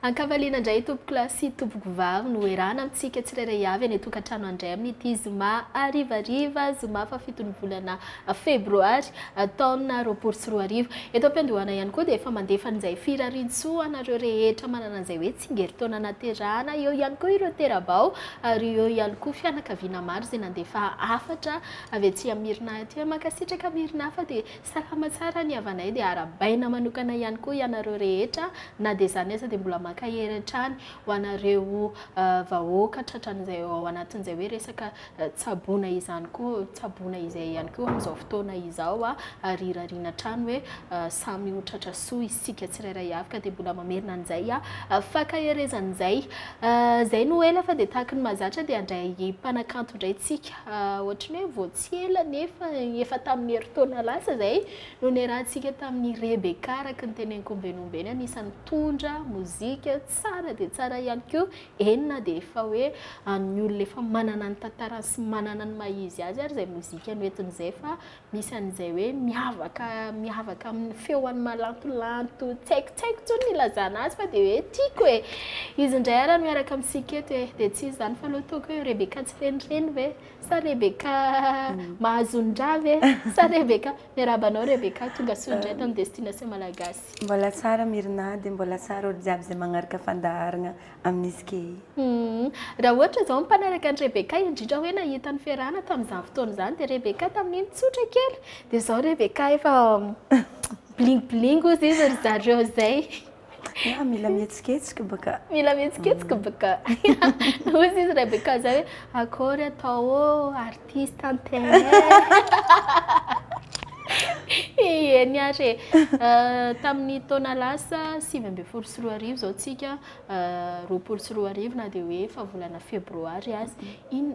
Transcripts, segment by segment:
An-kavaliana indray tompokolahy sy tompokovavy no erahana amintsika tsirairay avy any an-tokantrano andray amin'ity zoma harivariva zoma fahafiton'ny volana febroary taona roapolo sy roa arivo. Eto am-piandohana ihany koa dia efa mandefa an'izay firariantsoa anareo rehetra manana an'izay hoe tsingerintaona naterahana eo ihany koa ireo tera-bao ary eo ihany koa fianakaviana maro izay nandefa hafatra avy aty amin'Mirina aty. Mankasitraka Mirina fa dia Salama tsara ny havanay dia arabaina manokana ihany koa ianareo rehetra na dia izany aza dia mbola mankahery hatrany ho anareo vahoaka tratran'izay ao anatin'izay hoe resaka tsaboina izany koa tsaboina izay ihany koa amin'izao fotoana izao ary irariana hatrany hoe samy ho tratra soa isika tsirairay avy ka dia mbola mamerina an'izay fankaherezan'izay izay no ela fa dia tahaky ny mahazatra dia handray mpanakanto indray tsika ohatry ny hoe Tsy ela anefa, efa tamin'ny herintaona lasa izay, no niarahantsika tamin'i Rebecca araka ny teneniko omby nomby eny anisan'ny mpitondra mozika tsara dia tsara ihany koa eny na dia efa hoe an'ny olona efa manana ny tantarany sy manana ny maha izy azy ary izay mozika noentiny izay fa misy an'izay hoe miavaka miavaka amin'ny feony malantolanto tsy haiko tsy haiko intsony ny hilazana azy fa dia hoe tiako e izy indray ary miaraka amintsika eto e dia tsy izy izany fa aloha toa hoe Rebecca tsy renireny ve Sa Rebecca Mahazonin-dra ve? Sa Rebecca Miarahaba anao Rebecca, tonga soa indray tany Destination Malagasy. Mbola tsara Myrna dia mbola tsara olo jiaby izay magnaraka fandaharagna amin'izy key. Humm. Raha ohatra izao ny mpanaraka an'i Rebecca indrindra hoe nahita ny fiarahana tamin'izany fotoana izany dia Rebecca tamin'iny tsotra kely dia izao Rebecca efa bling bling ozy izy ry zareo izay. Ah, mila mihetsiketsika baka. Mila mihetsiketsika mm. baka. Hoy izy Rebecca zay hoe akory atao artiste antenne. Eny ary e. euh, tamin'ny taona lasa sivy ambin'ny folo sy roa arivo zao tsika euh, roapolo sy roa arivo na dia hoe efa volana febroary azy. In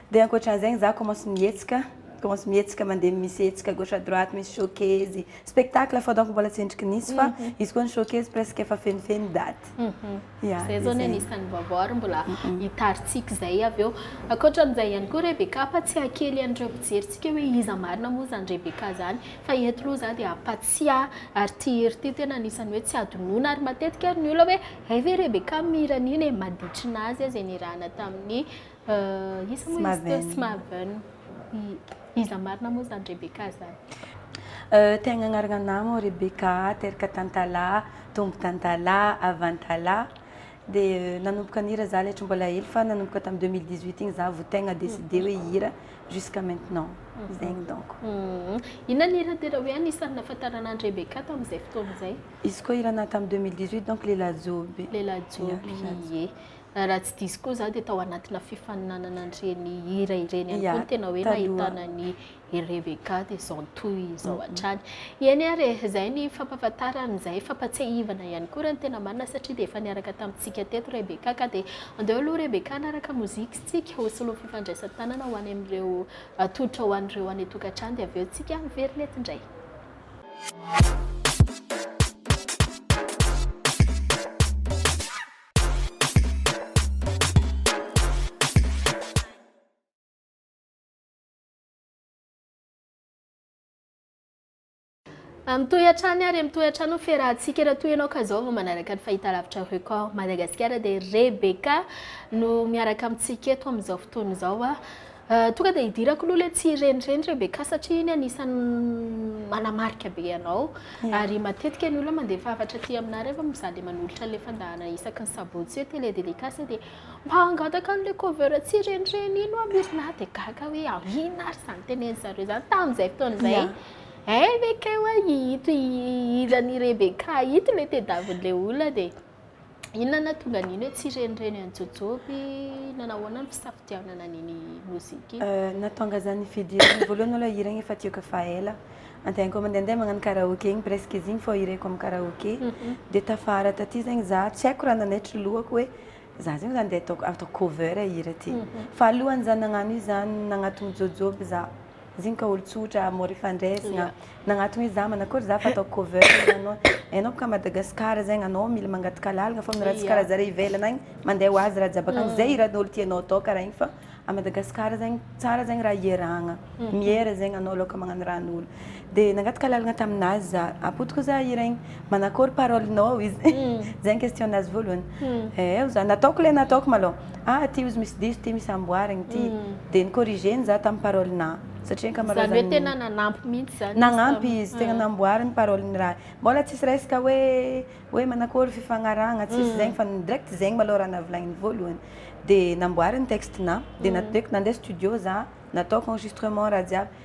Dia ankoatran'izay izaho commence mihetsika, commence mihetsika mandeha misy hetsika gauche à droite, misy showcase, spectacle fao donc mbola tsy endriky nisy fa izy koa ny showcase presque efa fenofeno ny daty. Ya. Izay izao ny anisan'ny vaovao ary mbola hitarintsika izay avy eo. Ankoatran'izay ihany koa Rebecca fa tsy hakely an'ireo mpijerintsika hoe iza marina moa izany Rebecca izany fa eto aloha izaho dia hampatsiahy ary ity hira ity tena anisan'ny hoe tsy hadinoina ary matetika ary ny olona hoe hay ve Rebecca mihira an'iny e, maditry ny azy aza e nirahana tamin'ny Iza moa izy teo? Smarven. Iza marina moa izany Rebecca izany? Te hagnanarana nama Rebecca, teraka tantalaha, tombo tantalaha, avantalaha. Dia nanomboka nihira za letra mbola hely fa nanomboka tamin'ny deux mille dix huit iny za vao tegna décidé hoe hihira jusqu'à maintenant. Zegny donc. Inona ny hira tena hoe anisan'ny nahafantarana an'i Rebecca tamin'izay fotoana izay? Izy koa hira naha tamin'ny deux mille dix huit donc Lelajoby. Lelajoby, ie. Raha tsy diso koa izaho dia tao anatina fifaninanana an'ireny hira ireny ihany koa ny tena hoe nahitana ny i Rebecca dia izao toy izao hatrany. Eny ary e, izay ny fampahafantarana, izay fampahatsiahivana ihany koa raha ny tena marina satria dia efa niaraka tamintsika teto Rebecca ka dia andeo aloha Rebecca hanaraka mozika isika ho solon'ny fifandraisan-tanana ho any amin'ireo atolotra ho an'ireo any an-tokantrano dia avy eo tsika miverina eto indray. Mitohy hatrany ary mitohy hatrany ny fiarahantsika raha toa ianao ka zao vao manaraka ny fahitalavitra record Madagasikara dia Rebecca no miaraka amintsika eto amin'izao fotoana izao. Tonga dia hidirako aloha ilay tsy renireny Rebecca satria iny anisan'ny manamarika be anao ary matetika ny olona mandefa hafatra aty aminà rehefa mizaha dia manolotra an'ilay fandahana isaky ny sabotsy hoe télé délicace dia mba hangataka an'ilay cover tsy renireny iny oa misy na dia gaga hoe inona ary izany teneniny zareo izany tamin'izay fotoana izay eh ve kay oa ito ito ilany Rebecca ito ilay tadiavin'ilay olona dia Inona no nahatonga an'iny hoe tsy renireny an'i Jôjôby? Nanao ahoana ny fisafidianana an'iny mozika iny? Nahatonga za nividy hira voalohany malôha hira igny efa tiako efa ela. Andianako mandehandeha magnano karaoke igny presque izy igny fô hireko amin'ny karaoke. Dia tafara taty zegny za tsy haiko raha nanaitry lohako hoe za zegny zany andeha atao cover hira ty. Fa alohan'izany nagnano io zany nagnatogno Jôjôby za. Ziny ka olo tsotra mora ifandresina nagnatony hoe za manakôry za fa ataoko cover anao enao boka Madagascar zegny anao mila mangataka lalagna fa raha tsy kara zare ivelany agny mande ho azy raha jiaby akagny ze hiranolo tianao atao kara igny fa a Madagascar zegny tsara zegny raha ierahagna miera zegny anao aloka magnano raha anolo Dia nangataka lalana tamin'azy za. Apoto koa za hira iny. Manakory parole nao hoy izy. Zay ny question nazy voalohany. Ee hoy za. Nataoko ilay nataoko malou. Ah aty hozy misy diso ity misy amboarina ity. Dia ni corrigeny za tamin'ny parole na. Satria ankamaroazany. Zany hoe tena nanampy mihitsy zany izy. Nagnampy izy. Tena namboary ny parole ny raha. Mbola tsisy resaka hoe hoe manakory fifagnarahana tsisy zegny fa direct zegny malou raha navolagniny voalohany. Dia namboary ny texte na. Dia nandeko nandeha studio za. Nataoko enregistrement raha jiaby.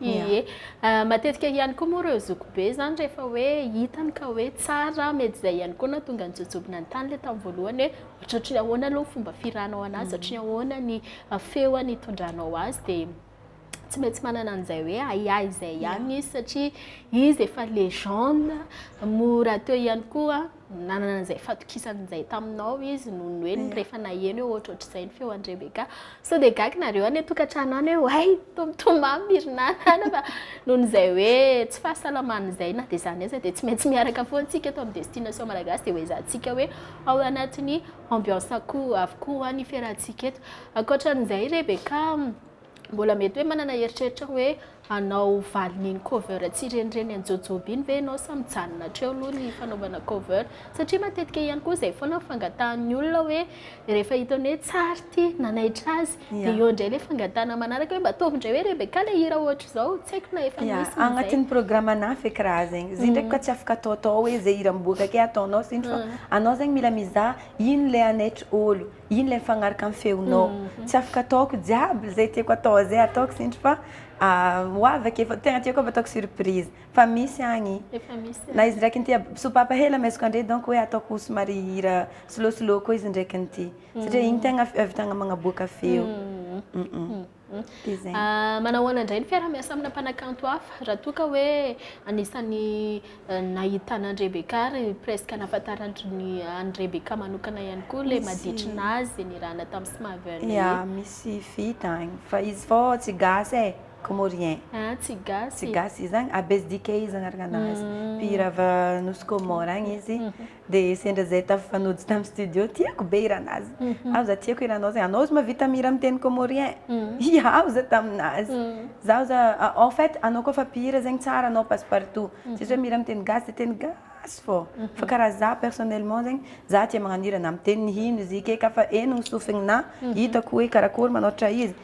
Ie. Matetika ihany koa moa ireo zokibe izany rehefa hoe hitany ka hoe tsara, mety izay ihany koa no nahatonga ny jojoby nanontany ilay tamin'ny voalohany hoe ohatran'ny ahoana aloha ny fomba fihiranao an'azy, ohatran'ny ahoana ny feony hitondranao azy dia tsy maintsy manana an'izay hoe ahiahy izay ihany izy satria izy efa legende, mora atao ihany koa. nanana an'izay fatokisany izay taminao izy noho ny hoe ny rehefa naheno hoe ohatrohatr'izay ny feo an'i Rebeka. Sao dia gaga nareo any an-tokantrano any hoe oay tomtomamy mirinana any fa noho izay hoe tsy fahasalamana izay na dia izany aza dia tsy maintsy miaraka foana antsika eto amin'ny destination malagasy dia hoezahantsika hoe ao anatin'ny ambiance akoho avokoa ny fiarahantsika eto. Ankoatran'izay Rebeka Mbola mety hoe manana eritreritra hoe hanao valin'iny cover tsy renireny an'i Jojoba iny ve ianao sa mijanona hatreo aloha ny fanaovana cover? Satria matetika ihany koa izay foana ny fangatahan'ny olona hoe rehefa hitany hoe tsara ity, nanaitra azy, dia eo indray ilay fangatahana manaraka hoe mba ataovy indray hoe Rebecca ilay hira hoatr'izao, tsy haiko na efa nisy ny izay. Anatin'ny programme na feky raha zegny, izy io ndraiky koa tsy afaka ataotao hoe izay hira miboaka akay ataonao izy io fa anao zegny mila mizaha ino ilay hanaitra olo. Iny ilay mifanaraka amin'ny feonao. Tsy afaka ataoko jiaby izay tiako atao izay ataoko sintry fa ho avy ake fa tegna tiako avy ataoko surprise fa misy agny. Efa misy. Na izy ndraiky nity sopapa hely amaiziko andre donc hoe ataoko somary hira slow slow koa izy ndraiky nity satria iny tegna ahavitagna magnaboaka feo. Manao ahoana indray ny fiaraha-miasa amina mpanakanto hafa raha toa ka hoe anisan'ny nahitana an'i Rebecca ary presque nahafantarandry ny an'i Rebecca manokana ihany koa ilay maditry nazy nirahana tamin'i Smavern iny. Ya, misy vita any fa izy fô tsy gasy e, comorien. Ah, tsy gasy. Tsy gasy izy agny, Abesdikey izy agnarana nazy. Mpihira avy Nosy Comore agny izy. Dia sendra izay tafifanojo tamin'ny studio, tiako be hiran'azy. Aho za tiako hiranao zay, anao ozy mahavita mihira amin'ny teny comorien. Hiaho za tamin'azy. Zaho za, en fait anao koa fa mpihira zegny tsara anao passe partout. Tsisy hoe mihira amin'ny teny gasy dia teny gasy fô. Fa karaha za personnellement zegny, za tia magnano hira na amin'ny teny hino izy ika eka fa eny ny sofigninà, hitako hoe karakôry manoatra izy.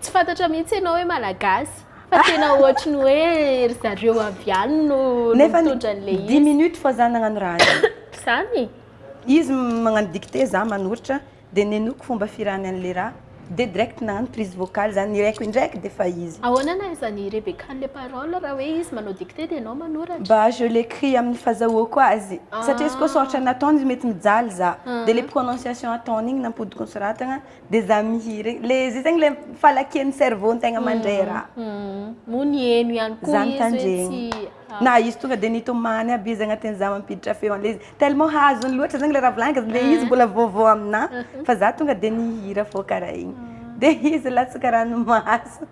Tsy fantatra mihitsy ianao hoe malagasy fa tena ohatry ny hoe ry zareo avy any no mitondra an'ilay izy. Nefa 10 minutes fa za nagnano raha io. Zany. Izy magnano dictée za manoritra dia nenoiko fomba firany an'ilay raha dia direct nagnano prise vocale za nireko indraiky dia efa izy. Ahoana nahaizan'i i Rebecca an'ilay parole raha hoe izy manao dictée dia ianao manoratra? Bah je l'écris amin'ny fazahoako azy satria izy koa soratra nataony izy mety mijaly za dia ilay prononciation ataony iny nampodiko nosoratagna. Des amis regny. Le zay zegny le falakian'ny cerveau ny tegna mandray raha. Moa niheno ihany koa Zany izy hoe tandremo. tsy ah, Na izy tonga dia nitomany aby izy agnatin'izaho mampiditra feo an'ilay izy. Tellement hazony loatra zegny le raha volagniko zany, le izy mbola vaovao aminà fa za tonga dia nihira fao karaha igny. Dia izy latsaka ranomaso.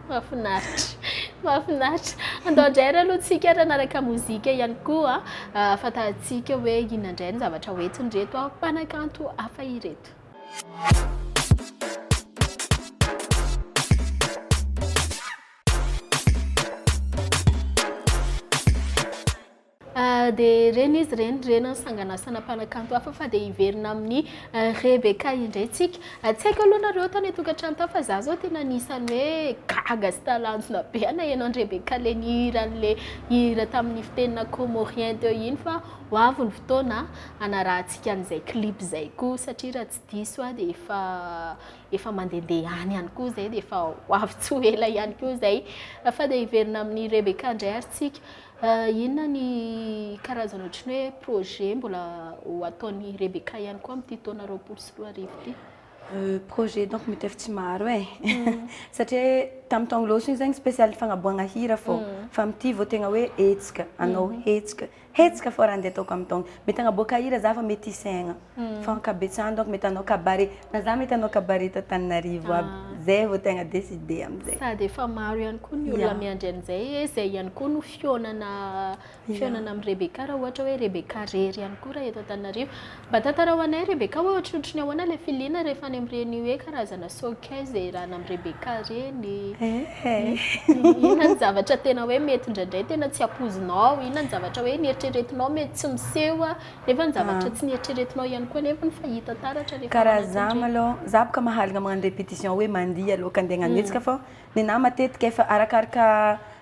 mahafinaritra. Mahafinaritra. Andao indray ary aloha tsika ary hanaraka mozika ihany koa ah, ahafantarantsika hoe inona indray ny zavatra hoentiny ireto mpanakanto hafa ireto. dia reny izy reny reny ny sanganasana mpanakanto hafa fa dia hiverina amin'ny eh, Rebecca indray tsika eh, tsy haiko aloha nareo tany atokantrano ta fa za zao tena anisan'ny hoe gaga sy talanjona be anaheno an'i Rebecca le nihira an'le hira tamin'ny fitenina comorien teo iny fa Ho avy ny fotoana hanarahantsika an'izay clip izay koa satria raha tsy diso aho dia efa efa mandehandeha any ihany koa izay dia efa ho avy tsy ho ela ihany koa izay. Fa dia hiverina amin'i Rebecca indray ary tsika. Inona ny karazana ohatry ny hoe projet mbola ho ataon'i Rebecca ihany koa amin'ity taona roapolo sy roa arivo ity? Projet donc mety efa tsy maro e. Satria tamin'ny taogno lôso iny zegny spécial fagnaboahagna hira fô. Fa amin'ity vao tegna hoe hetsika, hanao hetsika. Hetsika fort andeha ataoko am taogny. Mety agnaboaka hira za fa mety hisaigna fa ankabetsahany donc mety hanao cabaret na za mety hanao cabaret eto Antananarivo aby. Zay vao tegna decide amzay. Sady efa maro ihany koa ny olona miandry an'izay e, izay ihany koa no fihaonana fihaonana amin'i Rebecca raha ohatra hoe Rebecca rery ihany koa raha eto Antananarivo Mba tantarao anay Rebecca hoe ohatrohatry ny ahoana ilay filiana rehefa any amin'ireny hoe karazana showcase iarahana amin'i Rebecca ireny? Inona ny zavatra tena hoe mety indraindray tena tsy ampoizinao? Inona ny zavatra hoe nieritreretinao mety tsy miseho nefa ny zavatra tsy nieritreretinao ihany koa nefa fa hita taratra rehefa ao anatin'ireny? Karaha za malou, za boka mahalina magnano repetition hoe mandihy aloha ka andeha hagnano hetsika fa nenahy matetika efa arakaraka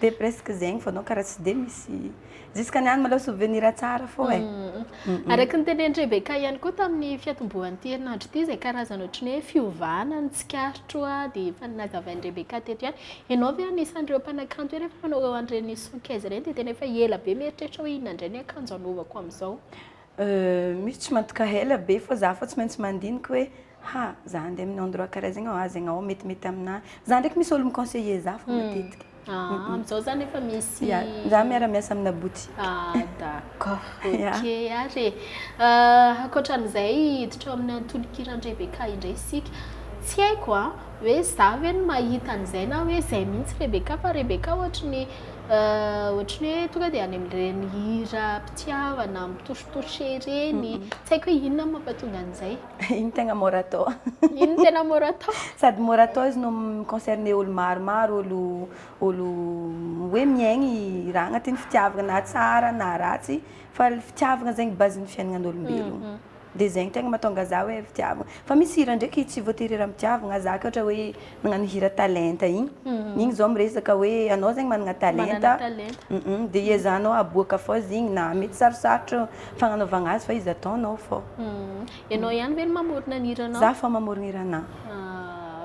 Dia presque zegny vao anao karaha tsy dia misy Jiskany any malao souvenir tsara fô e. Araky ny tenenin'i Rebecca ihany koa tamin'ny fiatombohan'ity herinandro ity izay karazana ohatry ny hoe fiovana ny tsikarotro dia efa nazavain'i Rebecca teto ihany. Ianao ve anisan'ireo mpanakanto hoe rehefa manao an'ireny son kez ireny dia tena efa ela be mieritreritra hoe inona indray ny akanjo hanaovako amin'izao? Euh misy tsy mantoka ela be fa za fa tsy maintsy mandinika hoe ha za handeha amin'ny endroit karaha zegny aho zegny aho metimety aminah za ndraiky misy olo mi conseiller za fa matetika Ah amizao zany efa misy Ya za miara miasa amina boutique Ah d'accord Ya ok ary e Euh ankoatran'izay hiditra ao amin'ny antonokiran'i Rebecca indray isika tsy haiko an. Hoe za ve no mahita an'izay na hoe izay mihitsy Rebecca fa Rebecca ohatry ny ohatry ny hoe tonga dia any amin'ireny hira mpitiavana mitouche-touche ireny. Tsy haiko hoe inona no mampatonga an'izay. Iny tegna mora atao. Iny tena mora atao. Sady mora atao izy no mi-concerner olo maromaro, olo olo hoe miaigna i raha agnatin'ny fitiavagna na tsara na ratsy fa le fitiavagna zegny base-n'ny fiaignan'olombelogno. Dia zegny tegna matonga za hoe fitiavagna. Fa misy hira ndraiky tsy voatery hira am-pitiavagna, za ka ohatra hoe nagnano hira talenta igny, igny zao miresaka hoe anao zegny managna talenta, dia hiezahanao hahaboaka fô izy igny na mety sarosarotra fagnanaovagna azy fa izy ataonao fô. Ianao ihany ve no mamorona ny hiranao? Za fô mamorona hiranà.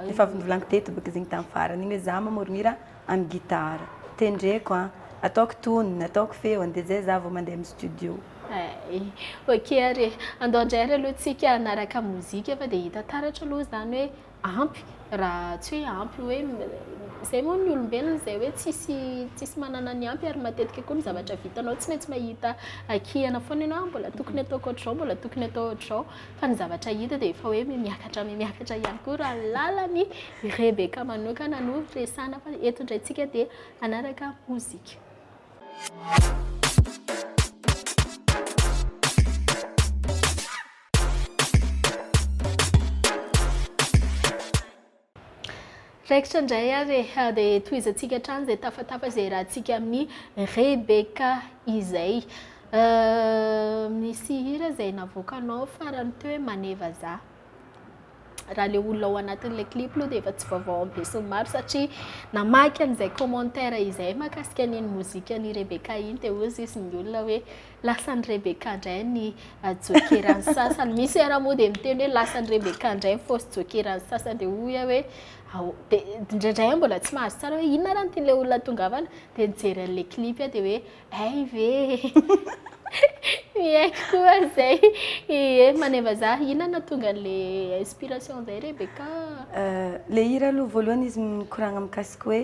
Efa avy novolagniko teto bôka izy igny tamin'ny farany igny hoe za mamorona hira. An'ny gitara. Tendreko an! Ataoko tonony, ataoko feony dia izay izaho vao mandeha amin'ny studio. Hay. Ok ary e! Andao indray ary aloha tsika hanaraka mozika fa dia hita taratra aloha izany hoe ampy raha tsy hoe ampy hoe izay moa ny olombelona izay hoe tsisy tsisy manana ny ampy ary matetika koa ny zavatra vitanao tsy maintsy mahita hakihana foana ianao, mbola tokony ataoko ohatr'izao, mbola tokony atao ohatr'izao. fa ny zavatra hita dia efa hoe mihamiakatra mihamiakatra ihany koa raha ny lalan'i Rebecca manokana no resahana fa eto indray tsika dia hanaraka mozika. Raikitra indray ary e! Dia tohizantsika hatrany izay tafatafa izay iarahantsika amin'i Rebecca izay. Misy hira izay navoakanao farany teo hoe Mane vazaha. Raha ilay olona ao anatin'ilay clip aloha dia efa tsy vaovao amin'ny besinimaro satria namaky an'izay commentaire izay mahakasika an'iny mozikan'i Rebecca iny dia hoy sisa ny olona hoe. Lasan'i Rebecca indray ny jokeran'ny sasany. Misy ara moa dia miteny hoe lasan'i Rebecca indray ny fausse jokeran'ny sasany dia hoy aho hoe ao dia indraindray aho mbola tsy mahazo tsara hoe inona ara ny tian'ilay olona tongavana dia nijery an'ilay clip aho dia hoe ay ve miaiky koa izay ie maneva za inona tonga an'ilay inspiration izay Rebecca. Euh, le hira aloha voalohany izy mikoragna mikasika hoe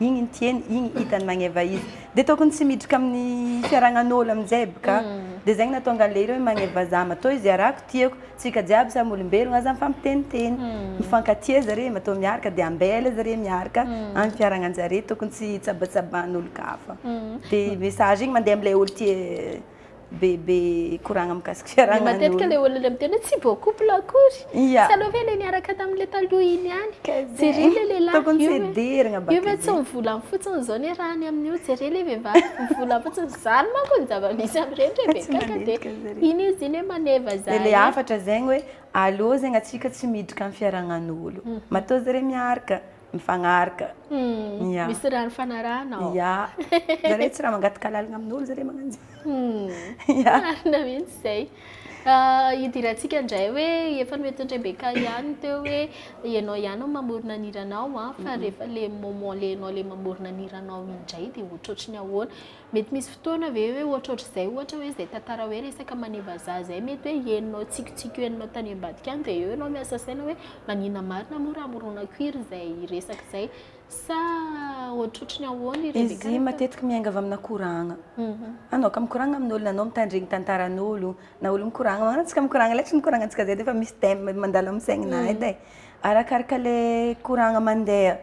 Igny nitiany, igny hitany magneva izy. Dia tokony tsy miditra amin'ny fiaragnan'olo amin'izay aby ka. Dia izay no nahatonga an'ilay hira hoe magneva za. Matoa izy iarako, tiako, tsika jiaby samy olombelogno aza mifampiteniteny. Mifankatia zareo, matoa miaraka dia ambela zareo miaraka any fiaragnanjare tokony tsy hitsabatsaban'olo-kafa. Dia message igny mandeha amin'ilay olo-tia. be be koragna mikasiky fiarahana ny matetika le olona le miteny hoe tsy beau couple akory yeah. tsy aleo ve le niaraka tamin'le taloha iny ihany jereo le lehilahy tokony tsy hederigna bakeo io ve tsy mivolany fotsiny izao ny raha any amin'io jereo le vehivavy mivolany fotsiny zany manko ny zava-misy amin'ireny re be kaka de iny izy iny hoe maneva zany le hafatra zegny hoe aleo zegny atsika tsy miditra amin'ny fiarahagnan'olo mhm. matoa zareo miaraka mifanaraka. Hmm. Yeah. Misy raha nifanarahana ao. Yeah. Zareo tsy raha mangataka lalina amin'olo zareo magnano zay. Hmm. Yeah. Marina mihitsy zay. Ah, hidirantsika indray hoe efa noentin'i Rebecca ihany teo hoe ianao ihany no mamorona ny hiranao an, ah, fa rehefa le moment le ianao le mamorona ny hiranao indray dia ohatrohatry ny ahoana. Mety misy fotoana ve hoe ohatrohatr'izay ohatra hoe izay tantara hoe resaka manimba vazaha izay mety hoe henonao tsikitsiky eo henonao tany ambadika any dia eo ianao miasa saina hoe maninona marina moa raha moronaiko iry izay resaka izay sa ohatrohatry ny ahoana ireny Izy karaktera matetiky miainga avy amina koragna. Anao ka mikoragna amin'olona, anao mitandregny tantaran'olo, na olo mikoragna, na antsika mikoragna letsy mikoragnantsika zay dia efa misy thème mandalo amin'ny saigninahy edy e. Arakaraka le koragna mandeha.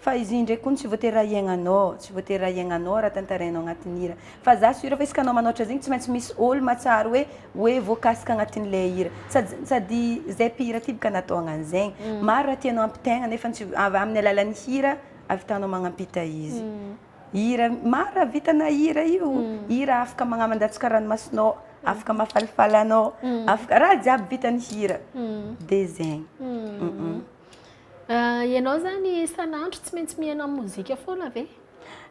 Fa izy indray kony tsy voatery ahiagnanao, tsy voatery ahiagnanao raha tantarainao agnatin'ny hira. Fa za sur fa izy ka anao manoatra zegny tsy maintsy misy olo mahatsiaro hoe hoe voakasika agnatin'ilay hira. Sady sady zay mpihira ty bka natao agnan'zegny. Maro raha tianao ampitaigna nefa tsy avy amin'ny alalan'ny hira avitanao magnampita izy. Hira maro raha vita na hira io, hira afaka magnamandatsaka ranomasinao, afaka mahafalifaly anao, afaka raha jiaby vitan'ny hira. Dia zegny. Ianao izany isan'andro tsy maintsy mihaino amin'ny mozika foana ve?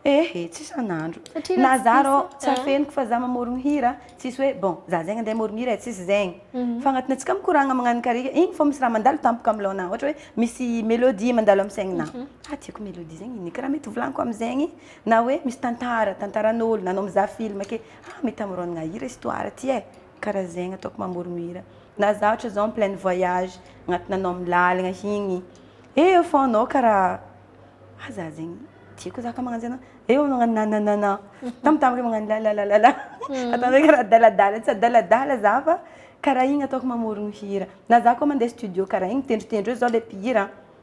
Eh eh, tsy isan'andro. Satria raha Na tsy za diso- arô tsy ah. afeniko fa za mamorogno hira, tsisy hoe bon, za zegny andeha hamorogno hira e, tsisy zegny. Fa agnatinay tsika mikoragna magnano karika, igny fô misy raha mandalo tampoka am' lôhana, ohatra hoe misy melodie mandalo am' saignina. Ha tiako melodie zegny ino e? Karaha mety volaniko am'zegny na hoe misy tantara, tantaran'ôlo na anao mizaha film ake, ha mety amorônagna hira histoire ty e. Karaha zegny ataoko mamoromira na za ohatra zao en pleine voyage agnatina anao am lalagna igny eo fô anao karaha ah za zegny tiako za ka magnanzay anao eo anao magnano nananana tambitamby magnano lalalala ataonao karaha adaladala tsy adaladala za fa karaha igny ataoko mamorogno hira na za koa mande studio karaha igny tendrotendro eo zao le mpihira.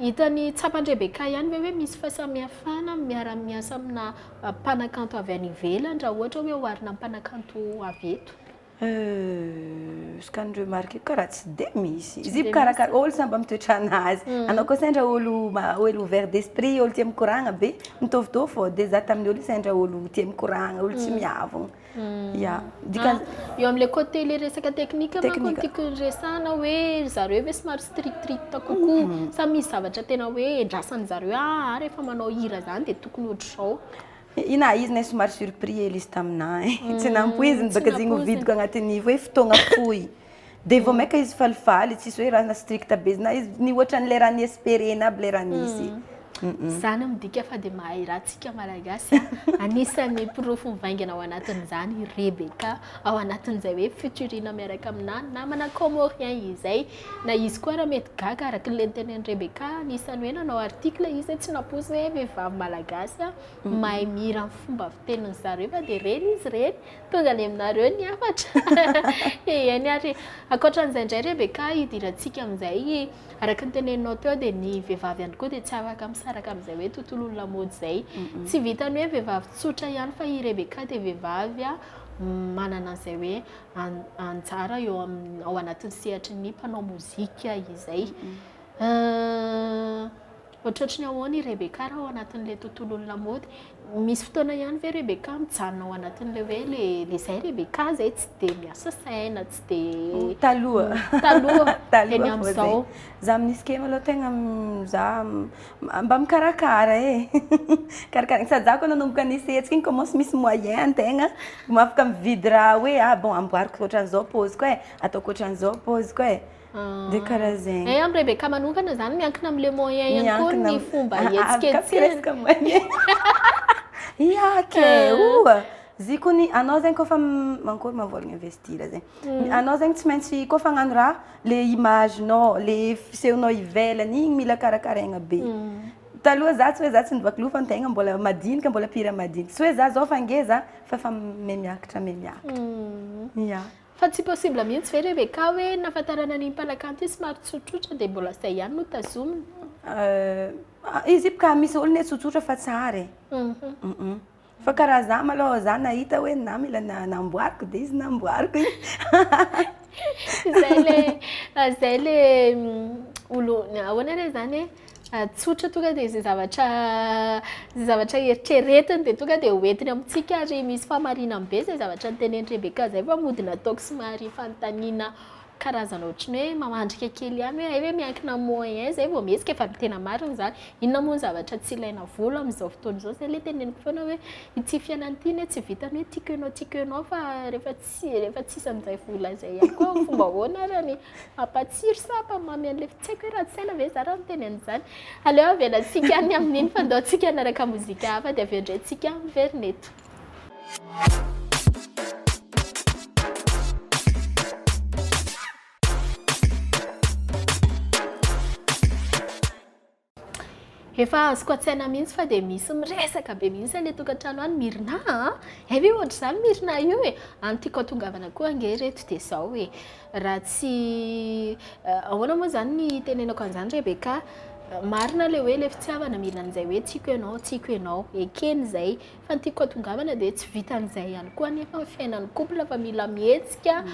Hitan'i Tsapan-dRebecca ihany ve hoe misy fahasamihafana amin'ny miara-miasa amina mpanakanto avy any ivelany raha ohatra hoe oharina amin'ny mpanakanto avy eto? ce que ni-remarquer ka raha tsy dia misy izy mpikarakara, olo samy mba mitoetrana azy, anao koa sendra olo olo ouvert d'esprit, olo tia mikoragna be, mitovitovy fô, de za tamin'ny olo sendra olo tia mikoragna, olo tsy miavogno. Ya, dikany Ah, eo amin'ilay côté ilay resaka teknika manko no Teknika. tiako resahana hoe ry zareo ve somary strict strict kokoa sa misy zavatra tena hoe endrasan'ny zareo ah rehefa manao hira zany dia tokony ohatr'izao. Ina izy nay somary surpris Elisy taminah eh. Tsy nampoiziny baka zegny ho vidiko agnatin'ny hoe fotoagna fohy. Dia vao maika izy falifaly, tsisy hoe raha strict be na izy, ny ohatran'ilay raha ni-esperena aby ilay raha nisy. Izany midika fa dia mahay raha tsika Malagasy a! Anisan'ny porofo mivaingana ao anatin'izany i Rebecca ao anatin'izay hoe futurina miaraka aminà namana comorien izay. Na izy koa ary mety gaga araka ilay notenenin'i Rebecca anisan'ny hoe nanao article izy hoe tsy nampoizina hoe vehivavy Malagasy mahay mihira amin'ny fomba fitenin'izareo fa dia ireny izy ireny. Tonga any aminareo ny hafatra. Eny ary ankoatran'izay indray Rebecca hidirantsika amin'izay araka ny teneninao teo dia ny vehivavy ihany koa dia tsy afaka misaraka amin'izay hoe tontolon'ny lamaody izay. Tsy vitan'ny hoe vehivavy tsotra ihany fa i Rebecca dia vehivavy manana an'izay hoe anjara eo amin'ny ao anatin'ny sehatry ny mpanao mozika izay. Ohatratry ny ahoana i Rebecca raha ao anatin'ilay tontolon'ny lamaody? Misy fotoana ihany ve Rebecca mijanona ao anatin'ilay hoe le le zay Rebecca zay tsy dia miasa saina, tsy dia Taloha. taloha, Taloha eny vao zay. amin'izao? Za amin'ny escape aloha tegna m- za m- mba mikarakara e. Karakaraina. Sady za koa nanomboka ni-essayer hetsika iny commence misy moyen an-tegna. Vao afaka mividy raha hoe ah bon amboariko ohatran'izao paoziko e, ataoko ohatran'izao paoziko e. de karaha zegny. Eh am Rebecca manokana zany miankina am le moyen ihany koa ny fomba ihetsiketsehany. Ia kay oh! Zikony anao zegny kôfa mankory ma vôla investir zegny. Anao zegny tsy maintsy kôfa hagnano raha le image-nao, le fisehonao ivelany igny mila karakaraigna be. Taloha za tsy hoe za tsy nivaky loha fa ny tegna mbola madinika mbola pire madinika. Tsy hoe za zao fa ngeza fa efa mihamiakatra mihamiakatra. Ia. Fa tsy possible mihitsy ve Rebecca hoe nahafantarana an'iny mpanakanto iny somary tsotsotra dia mbola izay ihany no tazomina? Izy io ka misy olona hoe tsotsotra fa tsara e. Fa karaha za malou za nahita hoe na mila namboariko dia izy namboariko iny. Izay le izay le olo ahoana re zany e. tsotra tonga dia izay zavatra izay zavatra eritreretiny dia tonga dia hoentiny amintsika ary misy fahamarinany be izay zavatra nitenen'i Rebeka izay fa mody nataoko somary fanontaniana karazana ohatran'ny hoe mamandrika kely ihany hoe hay ve miankina amin'ny moyen izay vao mihetsika fa ny tena marina izany inona moa ny zavatra tsy ilaina vola amin'izao fotoana izao izay ilay teneniko foana hoe ity fiainana ity anie tsy vitan'ny hoe tiako ianao tiako ianao fa rehefa Tsy e, rehefa tsisy an'izay vola izay ihany koa fomba ahoana ary ny hampatsiro sa hampamamy an'ilay tsy haiko hoe ratsy saina ve za raha miteny an'izany. Aleo avelantsika any amin'iny fandaontsika hanaraka mozika hafa dia avy eo indray tsika miverina eto. Efa azoko an-tsaina mihitsy fa dia misy miresaka be mihitsy any an-tokantrano any Mirina a! hay ve ohatr'izany Mirina io e! any tiako hatongavana koa ange ireto dia izao e! raha tsy ahoana moa izany ny hitenenako an'izany Rebecca a! marina ilay hoe ilay fitiavana mila an'izay hoe tiako ianao, tiako ianao, ekena izay. Fa ny tiako atongavana dia tsy vitan'izay ihany koa anefa ny fiainan'ny couple fa mila mihetsika,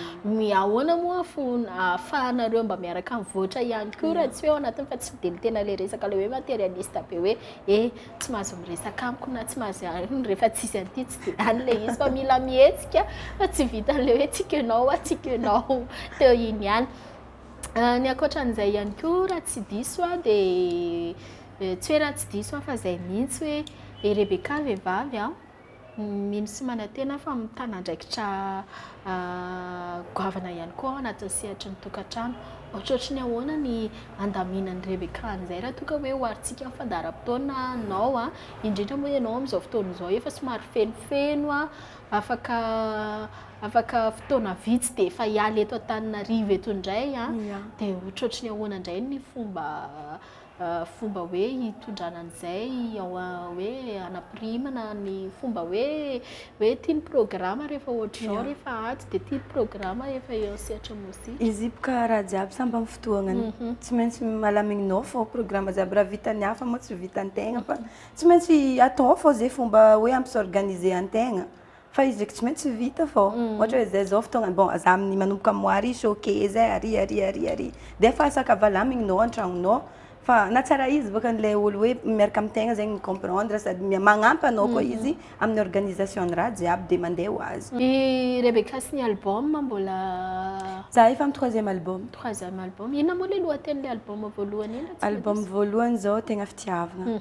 ahoana moa ahafahanareo mba miaraka mivoatra ihany koa raha tsy hoe ao anatiny fa tsy dia ny tena ilay resaka ilay hoe materialiste be hoe he tsy mahazo miresaka amiko na tsy mahazo an'iny rehefa tsisy an'ity tsy dia any ilay izy fa mila mihetsika fa tsy vitan'ilay hoe tsy kenao hoa tsy kenao teo iny ihany. Ny ankoatra an'izay ihany koa raha tsy diso aho dia Tsy hoe raha tsy diso aho fa izay mihitsy hoe i Rebecca vehivavy an, mino sy manantena aho fa mitana andraikitra goavana ihany koa ao anatin'ny sehatry ny tokantrano. Ohatrohatry ny ahoana ny handaminan'i Rebecca an'izay raha toa ka hoe oharintsika amin'ny fandaharam-potoana anao an, indrindra moa ianao amin'izao fotoana izao efa somary fenofeno an, afaka afaka fotoana vitsy dia efa hiala eto Antananarivo eto indray an, dia ohatrohatry ny ahoana indray ny fomba fomba hoe hitondrana an'izay ao hoe hanapirimana ny fomba hoe hoe ity ny programa rehefa ohatr'izao rehefa atsy dia ity ny programa efa eo sehatra mozika. Izy boka raha jiaby samy amin'ny fotoagnany. Mhm. Tsy maintsy malamignao fao programa jiaby raha vitan'ny hafa moa tsy vitan'ny tegna fa mhm. tsy maintsy atao fao zay fomba hoe ampisorganiser an-tegna. Fa izy tsy maintsy vita fô ohatra hoe zay zao fotoagna bon za amin'ny manomboka moary izy ok zay ary ary ary ary de efa saka valamignao an-tragnonao fa na tsara izy bôka an'ilay olo hoe miaraka amin-tegna zegny mi-comprendre sady mia- magnampy anao koa izy amin'ny organisation ny raha jiaby de mandeha ho azy. I Rebecca sy ny album mbola. Za efa amin'ny troisième album. Troisième album, inona moa le lohatenin'ilay album voalohany iny raha tsy diso? Album voalohany zao tegna fitiavagna.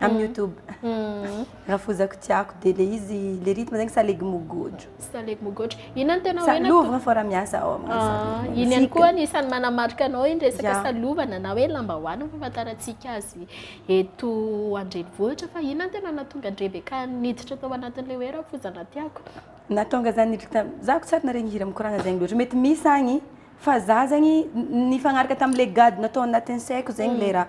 Amin'ny YouTube. Rafozako tiako dia le izy le rythme zegny salegy mogotro. Salegy mogotro. Inona no tena hoe lovagna fô raha miasa ao amin'ny asa. Ah, iny ihany koa ny isan'ny manamarika anao iny resaka salovana na hoe lambahoany ny fahafantarantsika azy eto an-drenivohitra fa inona no tena nahatonga an'i Rebecca niditra tao anatin'ilay hoe rafozana tiako. Nahatonga zany niditra tam zako tsy ary naharegny hira mikoragna zegny loatra. Mety misy agny fa za zegny nifagnaraka tam'le gadona tao anatin'ny saiko zegny le raha.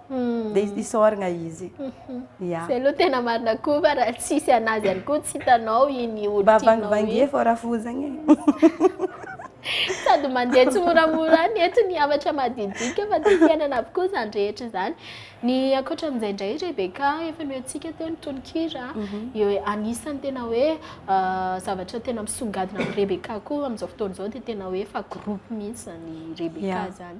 dia isaoragna izy. Ya. Zay aloha tena marina koa fa raha tsisy anazy ihany koa tsy hitanao iny olo Mba tianao vangivangie iny. fô rafozagna e. Sady mandeha tsimoramora any eto ny hafatra madinidinika fa tsy fiainana avokoa izany rehetra izany. Ny ankoatra amin'izay indray Rebecca, efa nomentsika teo ny tononkira eo anisan'ny tena hoe zavatra tena misongadina amin'i Rebecca koa amin'izao fotoana izao dia tena hoe efa groupe mihitsy izany Rebecca Ya. izany.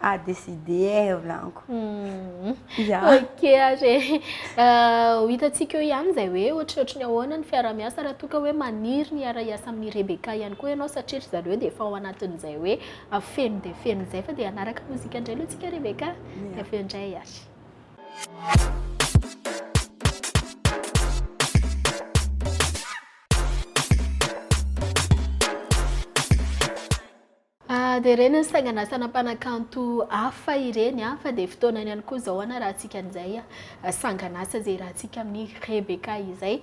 à décider volaniko. Hmm. Yeah. Ok ary ho hitantsika eo ihany izay hoe ohatrohatry ny ahoana ny fiarahamiasa raha toa ka hoe maniry ny hiara-hiasa amin'ny Rebecca ihany koa ianao satria ry zareo dia efa ao anatin'izay hoe feno dia feno izay fa dia hanaraka mozika indray aloha tsika Rebecca dia avy eo indray ary. Aa dia ireny ny sanganasana mpanakanto hafa ireny a, fa dia fotoanany ihany koa izao hanarahantsika an'izay sanganasa izay iarahantsika amin'i Rebecca izay.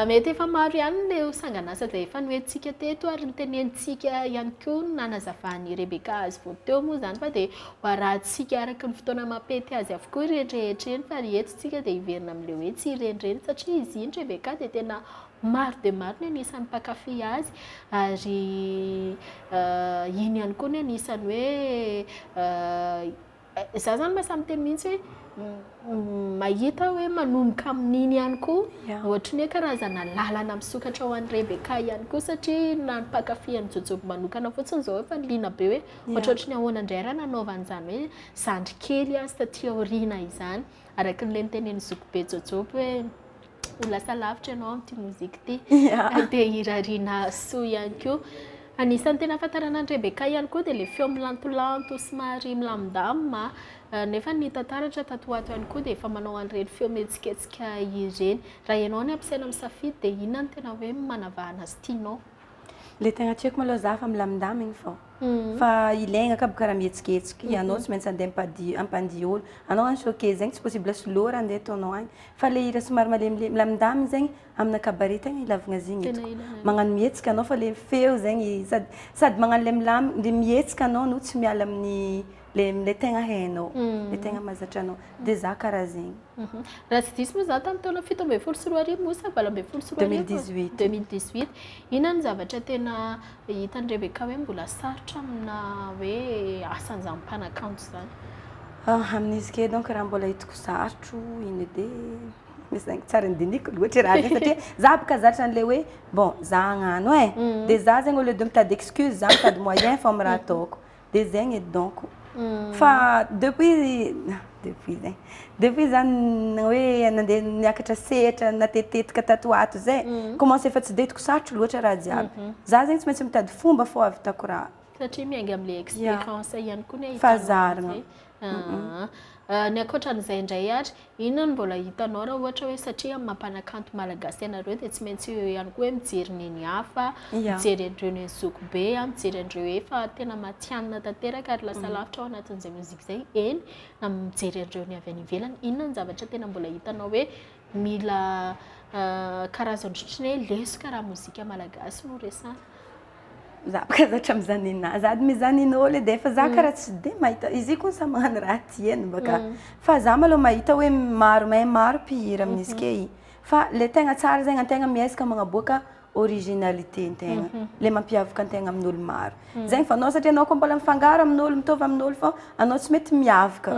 Mety efa maro ihany ireo sanganasa izay efa noentintsika teto ary notenenintsika ihany koa ny nanazavan'i Rebecca azy vao teo moa izany fa dia ho arahantsika araka ny fotoana mampety azy avokoa ireny rehetra ireny fa ry eto isika dia hiverina amin'ilay hoe tsy ireny ireny satria izy iny Rebecca dia tena Maro dia maro ny anisan'ny mpankafy azy ary iny ihany koa ny anisan'ny hoe za zany mahasahy miteny mihitsy hoe mahita hoe manomboka amin'iny ihany koa ohatry ny hoe karazana lalana misokatra ho an'i Rebecca ihany koa satria na ny mpankafy an'i Jojoby manokana fotsiny izao efa liana be hoe ohatrohatry ny ahoana indray raha nanaovana izany hoe zandry kely azy taty aoriana izany araka ilay notenenin'i zokibe Jojoby hoe ho lasa lavitra ianao amin'ity mozika ity. Dia hirariana soa ihany koa. Anisan'ny tena ahafantarana an'i Rebecca ihany koa dia ilay feo milantolanto somary milamindamina. Nefa ny hita taratra tato ho ato ihany koa dia efa manao an'ireny feo mihetsiketsika ireny. Raha ianao no ampiasaina misafidy dia inona no tena hoe manavahana azy tianao? Ilay tena tiako malao izaho efa milamindamina iny vao. Fa ilay enga kab karaha mihetsiketsika, ianao tsy maintsy andeha ampadi- hampandihy olo. Anao any showcase zegny tsy possible soloy raha andeha ataonao agny. Fa ilay hira somary malemilemy, milamindamigny zegny amina cabaret tegna ilavagna azy igny hitako. Magnano mihetsika anao fa le feo zegny sady sady magnano le milam- le mihetsika anao no tsy miala amin'ny. le le tegna hainao le tegna mahazatra anao de za karaha zegny raha tsy diso moa za tamin'ny taona fito ambin'ny folo sy roa arivo moa sa valo ambin'ny folo sy roa arivo deux mille dix huit deux mille dix huit inona no zavatra tena hitan'i Rebecca hoe mbola sarotra amina hoe asan'izany mpanakanto izany ah amin'izy ke donc raha mbola hitako sarotro iny edy e zany tsara ny diniko loatra raha zay satria za boka zatra an'le hoe bon za hagnano e eh. mm. de za zegny au lieu de mitady excuse za mitady moyen fao amin'ny raha ataoko dia zegny edy donc fa depuis depuis zegny depuis za hoe nandeha niakatra sehatra natetitetika tato ho ato zay commence efa tsy dia hitako sarotro loatra raha jiaby za zegny tsy maintsy mitady fomba fô ahavitako raha satria miainga amin'ilay expérience ihany koa ny ahitana an'izay. Aa ny ankoatran'izay indray ary inona no mbola hitanao raha ohatra hoe satria amin'ny mampanakanto malagasy ianareo dia tsy maintsy eo ihany koa hoe mijery neny hafa yeah. mijery an'ireo neny zoky be a mijery an'ireo efa tena matianina tanteraka ary lasa mm. lavitra ao anatin'izay mozika izay eny na mijery an'ireo ny avy any ivelany inona ny zavatra tena mbola hitanao hoe mila uh, karazany otriny hoe lesoka raha mozika malagasy no resana Za baka zatra mizany nina zady mizany ninao le defa za kara tsy de mahita izy koa sa magnano raha tiany baka fa za malao mahita hoe maro mahay maro mpihira amin'izy key fa le tegna tsara zegny antegna miezaka magnaboaka originalité ntegna le mampiavaka antegna amin'olo maro zegny fa anao satria anao koa mbola mifangaro amin'olo mitovy amin'olo fô anao tsy mety miavaka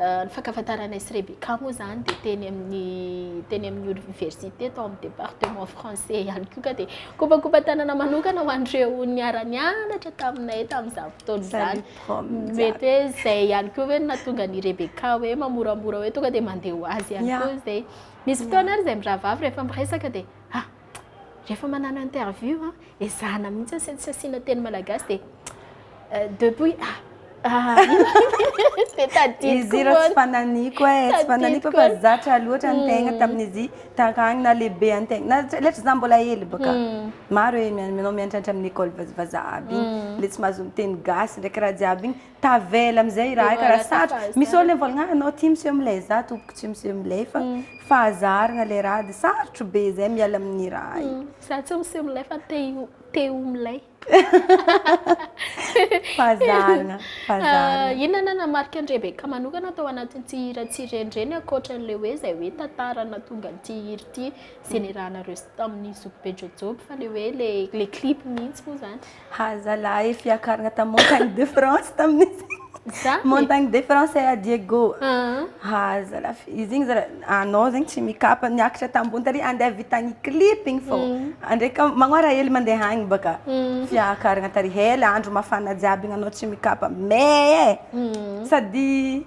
Ny fankafantaranay sy Rebecca moa izany dia teny amin'ny teny amin'ny oniversite tao amin'ny département français ihany koa ka dia kopakopan-tanana manokana ho an'ireo niara-nianatra taminay tamin'izany fotoana izany. Mety hoe izay ihany koa hoe nahatonga ny Rebecca hoe mamoramora hoe tonga dia mandeha ho azy ihany koa izay. Misy fotoana ary izay mirahavavy rehefa miresaka dia ah rehefa manano interview a, ezahana mihitsy tsy tsy asiana teny malagasy dia depuis ah ah dia tadidiko izy ireo tsy fananiko e eh, tsy fananiko fa zatra loatra ny tegna hmm. tamin'izy taragny na lehibe an tegna na letra za mbola hely baka hmm. maro e manao miantratra amin'ny école vazaha aby igny hmm. le tsy mahazo miteny gasy ndraiky raha jiaby igny Tavela amizay raha aika raha sarotra. Misy olona mivolagna ah anao ty miseho milay za tompoko tsy miseho milay fa fahazarana le raha de sarotro be zay miala aminy raha io. Za tsy miseho milay fa te te ho milay. Fahazarana, fahazarana. Inona nanamarika an'i Rebecca manokana tao anatin'ity hira tsy renireny ankoatran'ilay hoe izay hoe tantara nahatonga an'ity hira ity izay nirahanareo tamin'ny zokibe Jojoby fa ilay hoe ilay ilay clip mihitsy moa izany. Ha zalahy fiakarana tamin'ny Montagne de France tamin'izy. Zany? Montagne de France à Diego. Ah. Ha zalahy fi- izy igny zala anao zegny tsy mikapa niakatra tambony tary andeha vitagny clip igny fô. Andraika magnôra hely mandeha agny baka. Fiakarana tary hela andro mafana jiaby igny anao tsy mikapa mais sady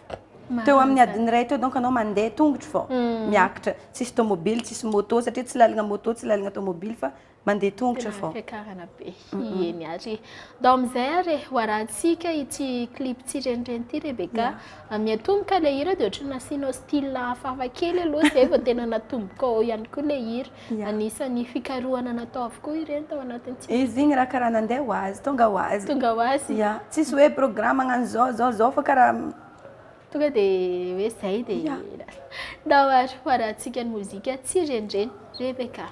Teo amin'ny adiny iray teo donc anao mandeha tongotro vao miakatra, tsisy tomobily, tsisy moto satria tsy lalana moto, tsy lalana tomobily fa mandeha tongotro vao. Fiakarana be, eny ary e. Ndao amin'izay ary e, ho arahantsika ity clip tsirenireny ity Rebecca. Miatomboka ilay hira dia ohatran'ny nasianao style hafahafa kely aloha izay vao tena natombokao ihany koa ilay hira. Anisan'ny fikarohana natao avokoa ireny tao anatin'ny tsy. Izy igny raha karaha nandeha ho azy, tonga ho azy. Tonga ho azy. Ya, tsisy hoe programme hagnano zao zao zao fa karaha. Tonga dia hoe zay dia. Ya. Ndao ary hoarahantsika ny mozika Tsy renireny, Rebecca.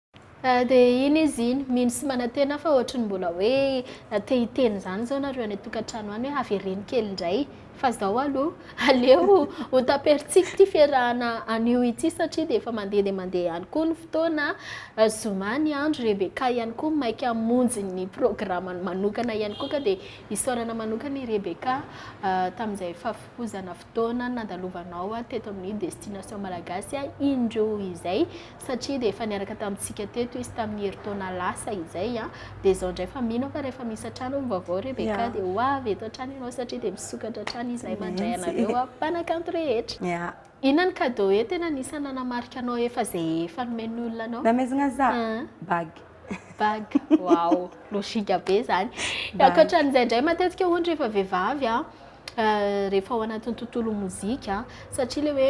Ah de iny izy iny, mino sy manantena aho fa ohatry ny mbola hoe te hiteny izany izao nareo any an-tokantrano any hoe avereno kely indray fa izao aloha aleo ho taper-tsiky ity fiarahana anio ity satria dia efa mandeha dia mandeha ihany koa ny fotoana, zoma ny andro, Rebecca ihany koa maika hamonjy ny programany manokana ihany koa ka dia isaorana manokana i Rebecca tamin'izay fahafohozana fotoana nandalovanao teto amin'ny Destination Malagasy indroa izay. satria dia efa niaraka tamintsika teto izy tamin'ny herintaona lasa izay a, dia izao indray fa mino aho fa rehefa misy hatrany hono vaovao Rebecca dia ho avy eto hatrany ianao satria dia misokatra hatrany izahay mandray anareo a mpanakanto rehetra. Inona ny cadeau hoe tena anisan'ny nanamarika anao efa izay efa nomen'ny olona anao? Namezina za? Bague. Bague, waouh, logika be izany. Bague. Ankoatran'izay indray matetika ohatra rehefa vehivavy a, eh, rehefa ao anatin'ny tontolon'ny mozika a, satria le hoe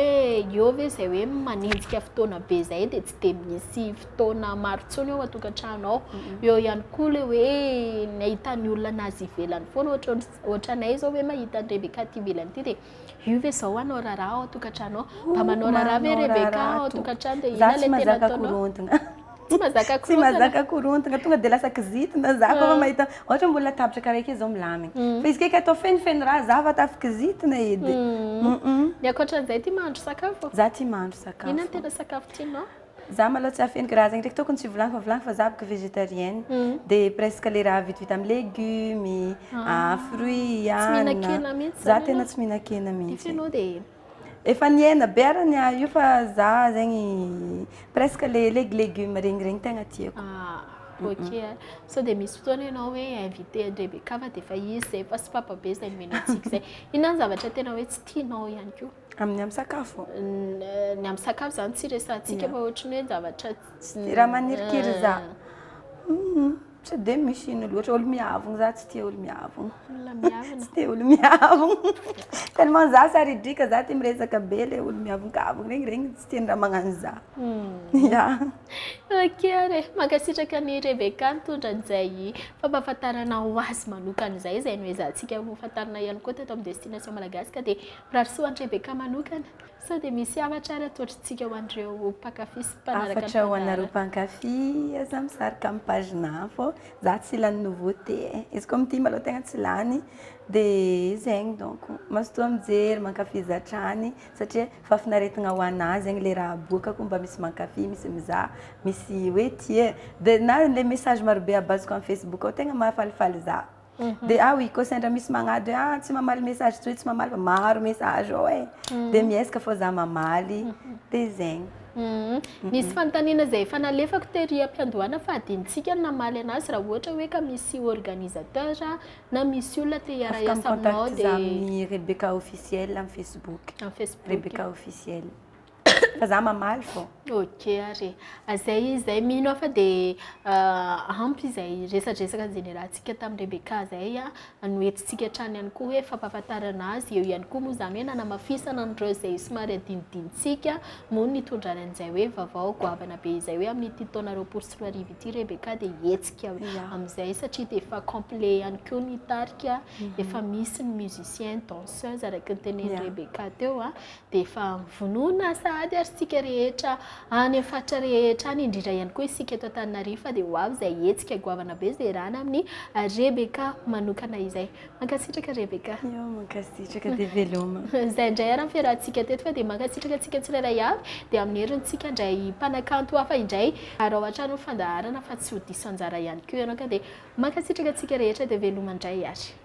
eo ve izay hoe manenjika fotoana be izay dia tsy dia misy fotoana maro intsony ao an-tokantrano ao. Eo ihany koa le hoe ny ahitan'ny olona an'azy ivelany foana, ohatra ohatranay izao hoe mahita an'i Rebecca aty ivelany aty dia Io ve zao hanao raharaha ao an-tokantrano ao? Mba manao raharaha ve Rebecca ao an-tokantrano dia inona ilay tena ataonao? Tsy mazaka korontana. Tsy mazaka korontana, tonga dia lasa kizitina za kôfa mahita ohatra ambony latabatra karaha ake zao milamina. Fa izy kaiky atao fenofeno raha za vao tafy kizitina edy. Ny ankoatran'izay tia mahandro sakafo? Za tia mahandro sakafo. Inona ny tena sakafo tianao? Za malôha tsy afeniko raha zegny ndraiky tôkony tsy volagniko fa volagniko fa za bôka végétarienne de presque le raha vitivita amy légume, fruits, anana, za tegna tsy mihinan-kena mihitsy, efa nihena be ara ny ahy io fa za zegny presque le leg- légume regny regny tegna tiako. Ok a, sao de misy fotoagna enao hoe invité an-dre Bekava de efa izy zay efa sopapa be zay omena antsika zay, inona ny zavatra tena hoe tsy tianao ihany koa? Amin'ny amin'ny sakafo? Ny amin'ny sakafo zany tsy resahantsika fa ohatriny hoe zavatra tsy dia raha manirikiry za tsy dia misy ino loatra olo miavogno za tsy tia olo miavogno olona miavogno tsy tia olo miavogno tellement za saridrika za tia miresaka be le olo miavongavogno regny regny tsy tiany raha magnano za hmm. ya ok ary mankasitraka ny Rebecca nitondra an'izay fampahafantarana ho azy manokana izay izay noezahantsika ho fantarina ihany koa teto amin'ny destination malagasy ka dia Rarisoa Andry Rebecca manokana sao dia misy hafatra ary atolotr'tsika ho an'ireo mpankafy sy mpanaraka ny tantara. Hafatra ho anareo mpankafy, aza misarika amin'ny page naf ô, za tsy lany nouveauté e, izy koa mitia malô tegna tsy lany, dia zegny donc, mazotoa mijery, mankafiza hatrany satria fahafinaretagna ho anah zegny le raha aboakako mba misy mankafy, misy mizaha, misy hoe tia e, dia na le message marobe abaziko amin'ny facebook ao tegna mahafalifaly za. Dia aho i Cassandra misy magnady hoe ah tsy mamaly message tsy hoe tsy mamaly maro message ao e. Dia miezaka fô za mamaly. Dia zegny. Nisy fanontaniana izay efa nalefako tery am-piandohana fa adinontsika ny namaly anazy raha ohatra hoe ka misy organisateur na misy olona te hiara-hiasa aminao dia. Afaka mi-contacte za amin'ny Rebecca officiel amin'ny Facebook. Amin'ny Facebook. Rebecca officiel. fa za mamaly fô. Ok ary e. Zay zay mino aho fa dia ampy izay resadresaka nizenerahantsika tamin'i Rebecca izay a, no entintsika hatrany ihany koa hoe fampahafantarana azy, eo ihany koa moa izany hoe nanamafisana an'ireo izay somary adinodinontsika moa ny hitondrany an'izay hoe vaovao goavana be izay hoe amin'ity taona roapolo sy roa arivo ity Rebecca dia hihetsika Ia. amin'izay satria dia efa complet ihany koa ny tarika, efa misy ny musiciens, danseuses araka ny tenenin'i Rebecca teo a, dia efa vonona sahady ary isika rehetra any amin'ny faritra rehetra any, indrindra ihany koa isika eto Antananarivo fa dia ho avy izay hetsika goavana be izay iarahana amin'ny Rebecca manokana izay. Mankasitraka Rebecca. Io, mankasitraka dia veloma. Izay indray ary ny fiarahantsika teto fa dia mankasitraka antsika tsirairay avy dia amin'ny herintsika indray mpanakanto hafa indray ary ao an-trano ny fandaharana fa tsy ho diso anjara ihany koa ianao ka dia mankasitraka antsika rehetra dia veloma indray ary.